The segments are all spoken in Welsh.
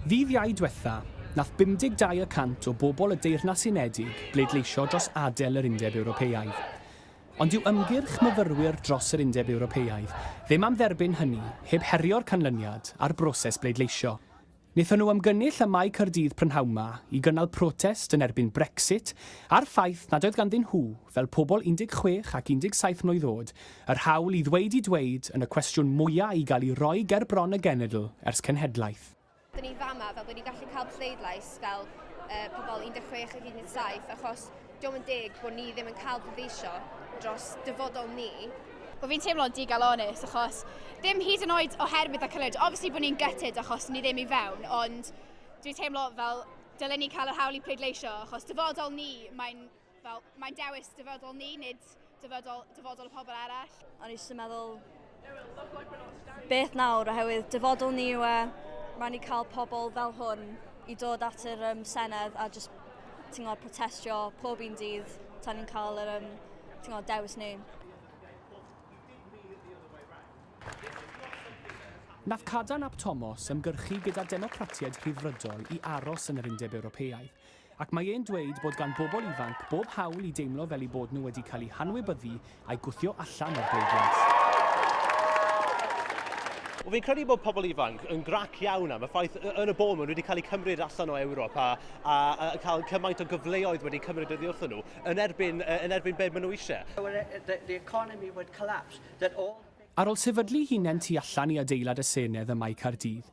Ddyddiau dwetha, nath 52 y cant o bobol y Deyrnas Unedig bleidleisio dros adel yr Undeb Ewropeaidd. Ond dyw ymgyrch myfyrwyr dros yr Undeb Ewropeaidd ddim am dderbyn hynny heb herio'r canlyniad a'r broses bleidleisio. Nethon nhw ymgynnull ym Mae Caerdydd prynhawn ma i gynnal protest yn erbyn Brexit a'r ffaith nad oedd ganddyn nhw, fel pobol 16 ac 17 mlwydd oed, Yr hawl i ddweud i dweud yn y cwestiwn mwya' i gael i roi ger bron y genedl ers cenhedlaeth. Dyn ni fama fel bod ni'n gallu cael pleidlais fel uh, pobl 16 ac 17 achos diolch yn deg bod ni ddim yn cael pleidleisio dros dyfodol ni bod fi'n teimlo'n digal onest achos ddim hyd yn oed oherwydd y cyllid. Obviously bod ni'n gytid achos ni ddim i fewn, ond dwi'n teimlo fel dylen ni cael yr hawl i pleidleisio achos dyfodol ni, mae'n Fel, mae'n dewis dyfodol ni, nid dyfodol, dyfodol y pobl arall. O'n i eisiau meddwl, beth nawr, oherwydd dyfodol ni yw e, rhaid ni cael pobl fel hwn i dod at yr um, Senedd a just ti'n gwybod, protestio pob un dydd tan ni'n cael yr um, ti'n gwybod, dewis ni. Nath Cadarn ap Tomos ymgyrchu gyda Democratiaid Rhyddfrydol i aros yn yr Undeb Ewropeaidd, Ac mae e'n dweud bod gan bobl ifanc bob hawl i deimlo fel eu bod nhw wedi cael eu hanwybyddu a'u gwthio allan o'r bleidlais. Wel, fi'n credu bod pobl ifanc yn grac iawn am y ffaith yn y bôn maen nhw wedi cael eu cymryd allan o Ewrop a, a, a cael cymaint o gyfleoedd wedi cymryd oddi wrthyn nhw yn erbyn, yn erbyn beth maen nhw eisiau. Ar ôl sefydlu hunen tu allan i adeilad y Senedd ym Mae Caerdydd,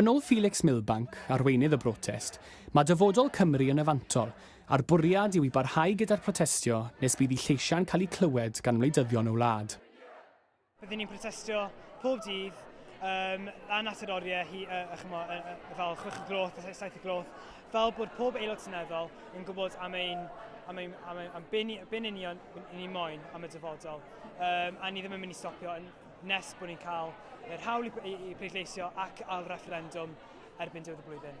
Yn ôl Felix Milbank, arweinydd y brotest, mae dyfodol Cymru yn y fantol, a'r bwriad yw i barhau gyda'r protestio nes bydd eu lleisiau'n cael eu clywed gan wleidyddion y wlad. Rydyn ni'n protestio pob dydd um, a natur oriau hi, uh, uh, chymo, uh, uh, fel chwech y groth, a saith y groth, fel bod pob aelod seneddol yn gwybod am ein am, ein, am, ein, am byn, byn union ni moyn am y dyfodol. Um, a ni ddim yn mynd i stopio yn nes bod ni'n cael yr hawl i pleidleisio ac ail-refferendwm erbyn diwedd y flwyddyn.